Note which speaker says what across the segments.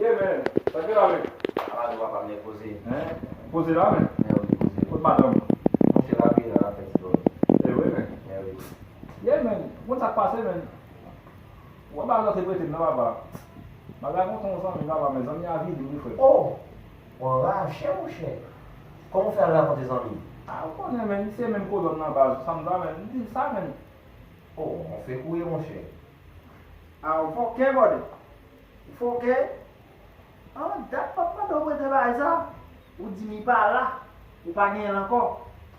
Speaker 1: Ye men, sa gen la men? Ala nou papa mnè
Speaker 2: poze. Hein, poze la
Speaker 1: men? Mè wi poze. Kot madanm
Speaker 2: ou?
Speaker 1: Mwen fè la priye
Speaker 2: nan lap fè ti dòmi. E wi men? Mè wi. Ye men,
Speaker 1: ou konn sak pase men? Ou pa bay lòt epretem nan papa. Bagay mwen konn zanmi papa men zanmi avili wi frè. Oh! Ou
Speaker 2: anraje monchè. Kòman ou fè al rakonte zanmi? Ah ou konnen men,
Speaker 1: li se menm kolòn nan baz, sam ta men, m dil sa men. Oh,
Speaker 2: on fè kouye monchè. Ah
Speaker 3: ou fòkè bòdè. Ou fòkè. An dat map mande w prete bagay sa, ou di m li pa la, ou pa genyen l ankò.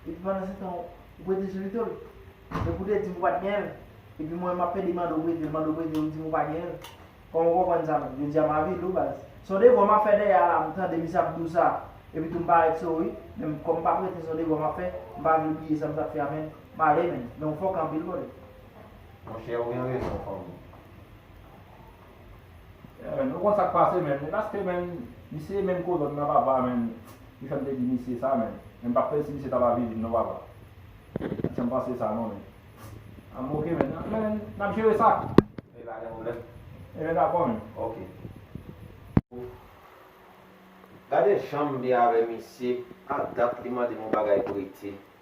Speaker 3: Epi pandan se tan ou prete Jolito l. Epi ou te di m ou pat genyen l. Epi mwen map pede mande w prete l, mande w prete l ou di m ou pa genyen l. Kòman w konprann sa menm? Jodi a ma vi lou baz. Son devwa map fè dèyè a la m tande misye ap di w sa, epi tou m parèt sou ou wi. Men m kòm m pa prete son devwa map fè, m pa vle bliye sa m tap fè a menn. Male menn. Men ou fòkè anpil bòdè. Monchè
Speaker 2: ou gen rezon fanmi.
Speaker 1: Yeah man, nou konn sak pase man, e paske man, misye e menm kolòn nan papa man, ki fèm te di misye sa man, men m pap fèl si misye ta lavi vin non papa, pat janm panse sa non man, am ok man, man nap jere sa. Ok pa gen pwoblèm.
Speaker 2: Ebyen dakò man.
Speaker 1: Ok.
Speaker 2: Gade janm byen avè misye, a dat li mandem yon bagay prete.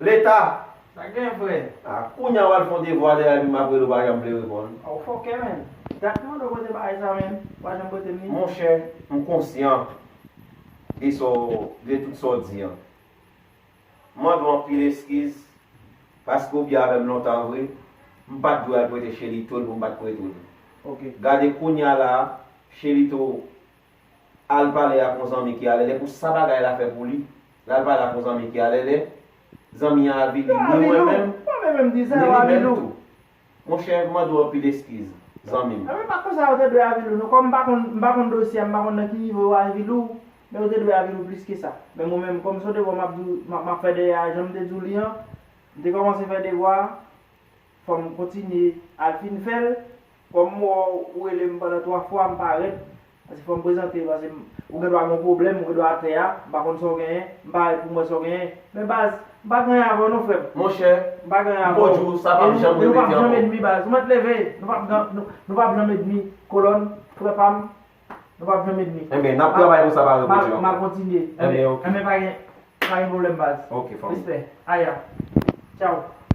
Speaker 2: Leta! Sak gen frè?
Speaker 3: Ah kounya wal fon
Speaker 2: devwa de abim apre ou pa janm vle reponn. Ah ou fòkè menn.
Speaker 3: Dat mwen dwe pote bagay sa menn, ou pa janm potem li. Monchè, m
Speaker 2: konsyan de sa w, de tout sa w di an. M mande w anpil eskiz, paske ou byen avè m lontan vre, m pat dwe al prete Shelito l pou m pat prete w li. Ok. Gade
Speaker 3: kounya
Speaker 2: la a, Shelito. Al pale ak yon zanmi ki alèlè pou sa bagay la fè pou li. L al pale ak yon zanmi ki alèlè. Zanmi an avili ni mwen menm, ni li menm
Speaker 3: tou. Monchè,
Speaker 2: m mande w anpil eskiz, zanmi m. Anben, pa konsa yo te
Speaker 3: dwe avili w non. Kòm m pa konn, m pa konn dosye a, m pa konn nan ki nivo yo avili w, men yo te dwe avili w plis ke sa. Men mwen menm, kòm son devwa m ap di w, m ap fè dèyè a, jan m te di w li an, m te kòmanse fè devwa a. Fòm kontinye al fin fèl. Kòm m wè w ou rele m pandan 3 fwa m pa rep paske fòm prezante paske m ou gen dwa gen yon pwoblèm ou gen dwa atè a m pa konn sa w genyen m pa rèt pou m wè sa w genyen men baz m pa gen anyen avè w non frè m Monchè m pa gen
Speaker 2: anyen avè w Mponjou sa pap janm e nou pap janm edmi baz
Speaker 3: ou mèt leve nou pap gan nou pap janm edmi kolòn frè pa m nou pap janm edmi Enben n ap travay konsa
Speaker 2: pa reponn yo ankò m a kontinye
Speaker 3: Enben ok Enben pa gen
Speaker 2: pa
Speaker 3: gen pwoblèm baz
Speaker 2: ok fòm
Speaker 3: respè aya tchaw.